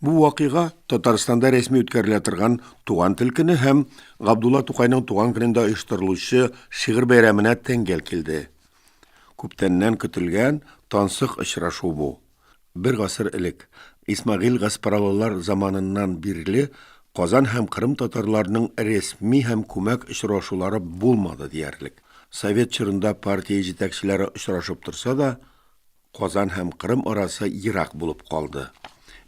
Бу вакыйга Татарстанда рәсми үткәрелә торган Туган тел көне һәм Габдулла Тукайның туган көнендә оештырылучы шигырь бәйрәменә тәңгәл килде. Күптәннән көтелгән тансык очрашу бу. Бер гасыр элек, Исмәгыйль Гаспаралылар заманыннан бирле Казан һәм Кырым татарларының рәсми һәм күмәк очрашулары булмады диярлек. Совет чорында партия җитәкчеләре очрашып торса да, Казан һәм Кырым арасы ерак булып калды.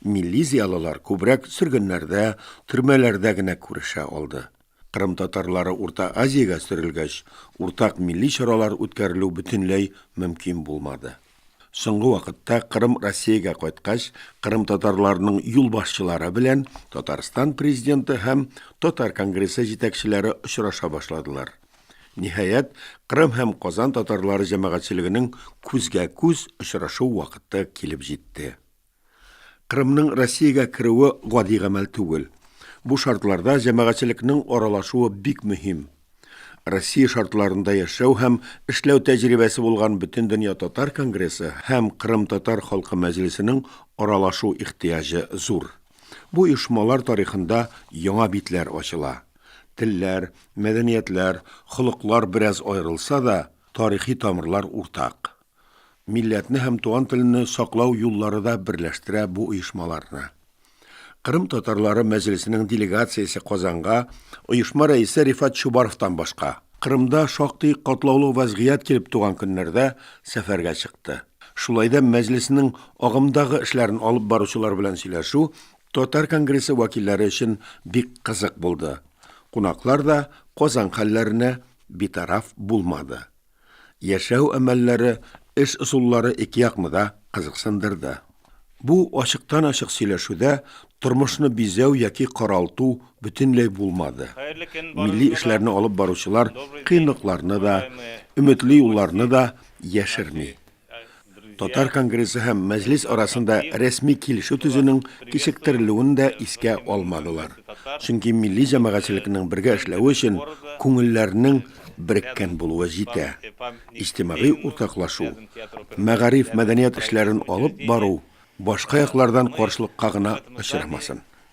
Милли зиялылар күбрәк сөргеннәрдә, төрмәләрдә генә күрешә алды. Кырым татарлары Урта Азиягә сөрелгәч, уртак милли чаралар үткәрелү бөтенләй мөмкин булмады. Соңгы вакытта Кырым Россиягә кайткач, Кырым татарларының юлбашчылары белән Татарстан президенты һәм Татар конгрессы җитәкчеләре очраша башладылар. Ниһаять, Кырым һәм Казан татарлары җәмәгатьчелегенең күзгә-күз очрашу вакыты килеп җитте. Кырымның Россиягә керүе гади гамәл түгел. Бу шартларда җәмәгатьчелекнең аралашуы бик мөһим. Россия шартларында яшәү һәм эшләү тәҗрибәсе булган Бөтендөнья татар конгрессы һәм Кырым татар халкы мәҗлесенең аралашу ихтыяҗы зур. Бу оешмалар тарихында яңа битләр ачыла. Телләр, мәдәниятләр, холыклар бераз аерылса да, тарихи тамырлар уртак. Милләтне һәм туган телне саклау юллары да берләштерә бу оешмаларны. Кырым татарлары мәҗлесенең делегациясе Казанга оешма рәисе Рифат Чубаровтан башка, Кырымда шактый катлаулы вәзгыять килеп туган көннәрдә сәфәргә чыкты. Шулай да мәҗлесенең агымдагы эшләрен алып баручылар белән сөйләшү Татар конгрессы вәкилләре өчен бик кызык булды. Кунаклар да Казан хәлләренә битараф булмады. Яшәү әмәлләре, эш ысуллары ике якны да кызыксындырды. Бу ачыктан-ачык сөйләшүдә тормышны бизәү яки каралту бөтенләй булмады. Милли эшләрне алып баручылар кыенлыкларны да, өметле юлларны да яшерми. Татар конгрессы һәм Мәҗлес арасында рәсми килешү төзүнең кичектерелүен дә искә алмадылар. Чөнки милли җәмәгатьчелекнең бергә эшләве өчен күңелләрнең береккән булуы җитә. Иҗтимагый уртаклашу, мәгариф-мәдәният эшләрен алып бару башка яклардан каршылыкка гына очрамасын,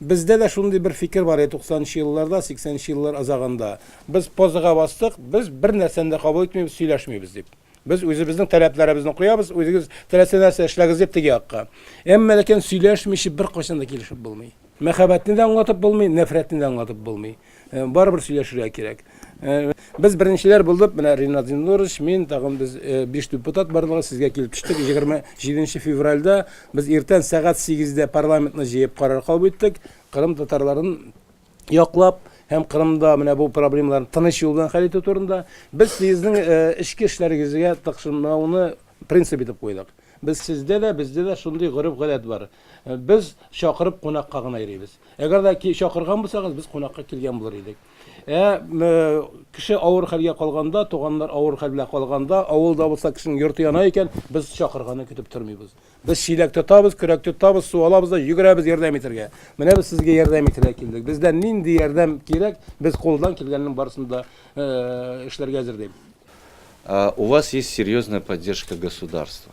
Бездә дә шундый бер фикер бар иде туксанынчы елларда, сиксәненче еллар азагында. Без позага бастык, без бер нәрсәне дә кабул итмибез, сөйләшмибез дип. Без үзебезнең таләпләребезне куябыз, үзегез теләсә нәрсә эшләгез дип теге якка. Әмма ләкин сөйләшмичә беркайчан да килешеп булмый. Мәхәббәтне дә аңлатып булмый, нәфрәтне дә аңлатып булмый. Барыбер сөйләшергә кирәк. Без беренчеләр булдык, менә Ринат Зиннурович, мин, тагын без биш депутат барлыгы сезгә килеп төштек. 27 февральдә без иртән сәгать 8-дә парламентны җыеп карар кабул иттек. Кырым татарларын яклап һәм Кырымда менә бу проблемаларны тыныч юлдан хәл итү турында без сезнең эчке эшләрегезгә тыкшынмауны принцип итеп куйдык. Без сездә дә, бездә дә шундый гореф-гадәт бар. Без чакырып кунакка гына йөрибез. Әгәр дә чакырган булсагыз, без кунакка килгән булыр идек. Ә кеше авыр хәлгә калганда, туганнар авыр хәл белән калганда, авылда булса кешенең йорты яна икән, без чакырганны көтеп тормыйбыз. Без чиләк тотабыз, көрәк тотабыз, су алабыз да йөгерәбез ярдәм итәргә. Менә без сезгә ярдәм итәргә килдек. Бездән нинди ярдәм кирәк, без кулдан килгәннең барысын да эшләргә әзер, ди. У вас есть серьезная поддержка государства.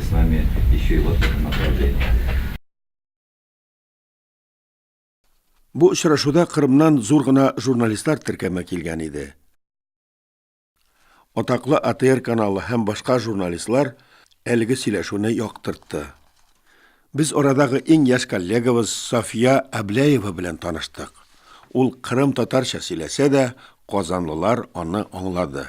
С нами еще и вот это направление. Бу очрашуда Кырымнан зур гына журналистлар теркәмә килгән иде. Атаклы АТР каналы һәм башка журналистлар әлеге сөйләшүне яктыртты. Без орадагы иң яшь коллегабыз София Абляева белән таныштык. Ул Кырым татарча сөйләсә дә, казанлылар аны аңлады.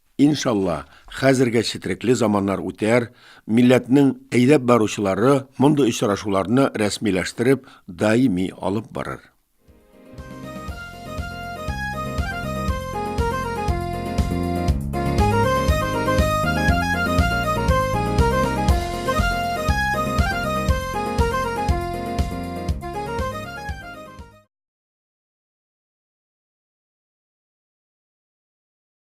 Иншалла, хәзергә четрекле заманнар үтәр, милләтнең әйдәп баручылары мондый очрашуларны рәсмиләштереп, даими алып барыр.